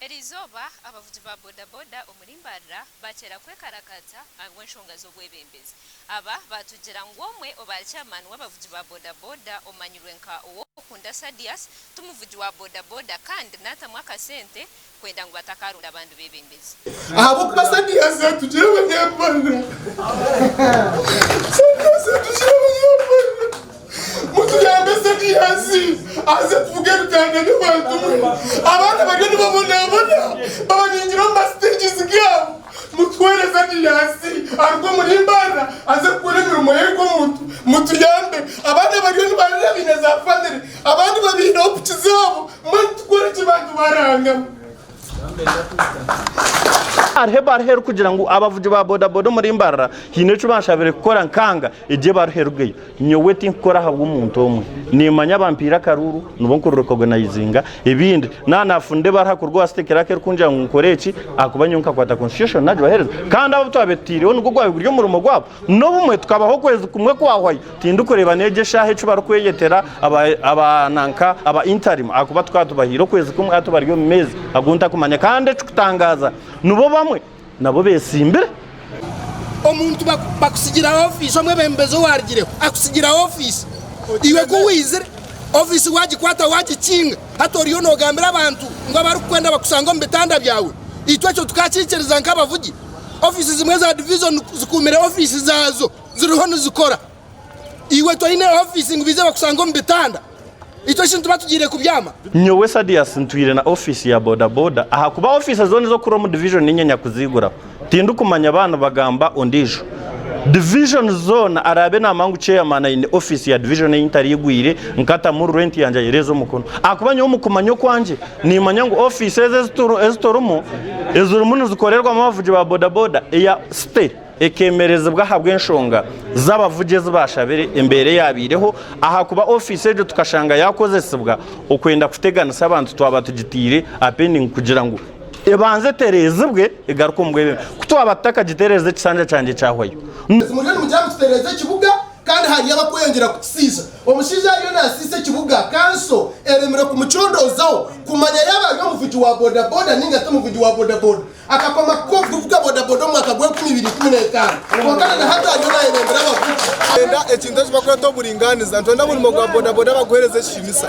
Eri izooba abavugi ba bodaboda omuri Mbarara bakyera kwekarakaata ahabw'enshonga z'obwebembezi. Aba baatugira ngu omwe obaari chairman w'abavugi ba bodaboda omanyirwe nka Ow'okunda Sadius ti muvugi wa bodaboda kandi naatamu akasente kwenda ngu batakaaronda abandi beebembezi. Ahabw'okuba Sadius atugira abanyambarara. Mutuyambe Sakiyaasi aze kuvuga ebitanda by'abantu mwe. Abaana bariyo nibabonabona babaningira omu ma stages gaabo. Mutuhwere Sakiyaasi aruge omuri Mbarara aze kukora emirimo ye nk'omuntu. Mutuyambe. Abaana bariyo nibarira baine za family abandi babaireho piki zaabo. Mbwenu tukoreki bantu ba Ruhanga mwe? Hariho ebaruha erikugira ngu abavugi ba bodaboda omuri Mbarara haine eki banshabire kukora nkanga. Egyo ebaruha erugeyo. Nyowe tinkukora ahabw'omuntu omwe. Nimmanya bampaire akaruuru nibwo nkuri recognizinga. Ebindi, naaba naafunire ebaruha kuruga owa City Clerk erikugira ngu nkore eki ahakuba nyowe nkakwata Constitution naagibaheereza. Kandi abo abu twabire tutaireho nigwo gwabire guri omurimo gwabo. N'obumwe tukabaho okwezi kumwe kwahwayo tindikureeba n'egi eshaaha eki barikweyetera aba aba nanka aba interim ahakuba tukaba tubahaire okwezi kumwe hati bari omu meezi agu ntakumanya kandi ekikutangaaza nibo bamwe nabo beetsimbire. Omuntu baku bakusigira ofiisi omwebembezi owaarugireho akusigira ofiisi iwe ku waizire ofiisi waagikwata waagikinga hati oriyo noogambira abantu ngu abarikukwenda bakusange omu bitanda byawe itwe ekyo tukaakiikiriza nk'abavugi Ofiisi zimwe za divizoni zikuumire ofiisi zaazo ziriho nizikora. Iwe toine ofiisi ngu baije bakusange omu bitanda? Itwe shi nituba tugiire kubyama? Nyowe Sadius ntwire na ofiisi ya bodaboda ahakuba ofiisi zoona ez'okukura omu divizoni niinye nyakuziiguraho. Tindikumanya baanu, bagamba ondiijo. Divizoni zoona araabe naamanya ngu chairman aine ofiisi ya divizoni ei ntariigwire nkatamu rwenti yangye ayereeze omukono ahakuba nyowe omu kumanya okwangye, Niimanya ngu ofiisi ezi ezi turimu ezirimu nizikorerwamu abavugi ba bodaboda eya City ekeemerezibwa ahabw'enshonga z'abavugi ezi baashabire embeera eyaabaireho ahakuba ofiisi egyo tukashanga yaakozesibwa okwenda kuteganisa abantu twaba tugitaire aha pendingi kugira ngu ebanze etereezibwe egaruke omu bwebembezi ku twaba tutakagitereeza ekisanja kyangye kyahwayo. Kandi hariyo abakweyongyera kukisiisa. Omushaija ariyo nasiisa ekibuga, kanso eremire kumucondoozaho kumanya yaaba ari omuvugi wa bodaboda nainga ti muvugi wa bodaboda. Akakoma kuba omuvugi wa bodaboda omu mwaka gwa enkumi ibiri ikumi n'etaano, kwonka na nahati ariyo nayebembera abavugi. Nitwenda ekintu eki barikweta oburingaaniza. Nitwenda omurimo gwa bodaboda baguheereze ekitiinisa.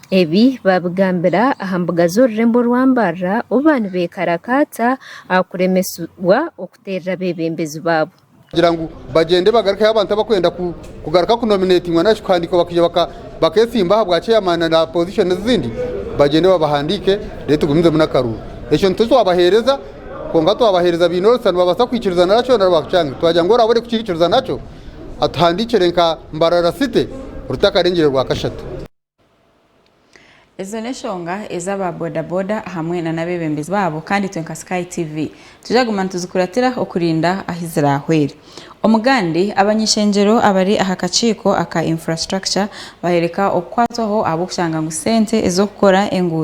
Ebi baabigambira aha mbuga z'orurembo orwa Mbarara obu baaba nibeekarakata aha kuremesibwa okuteerera abeebembezi baabo. Kugira ngu bagyende bagarukeho abantu abarikwenda kugaruka kunominetingwa nari shi kuhandiikwa bakaija baketsimba ahabwa chairman na positions ezindi, bagyende babahandiike reero tugumizemu n'akaruuru. Ekyo nikyo twabaheereza kwonka twabaheereza baine orusa nibabaasa kwikiriza nari ashwera nari baakucanga. Twagira ngu oraabe orikukiikiriza nakyo atuhandiikire nka Mbarara City rutakarengyire rwakashatu. Ezo n'eshonga ezi aba bodaboda hamwe na n'abebembezi baabo kandi itwe nka Sky TV tujaguma nituzikuratira okurinda ahi zirahwere. Omugande, Abany'ishengyero abari aha kakiiko aka Infrastructure bahereka okukwatwaho ahabw'okushanga ngu sente ez'okukora enguuto,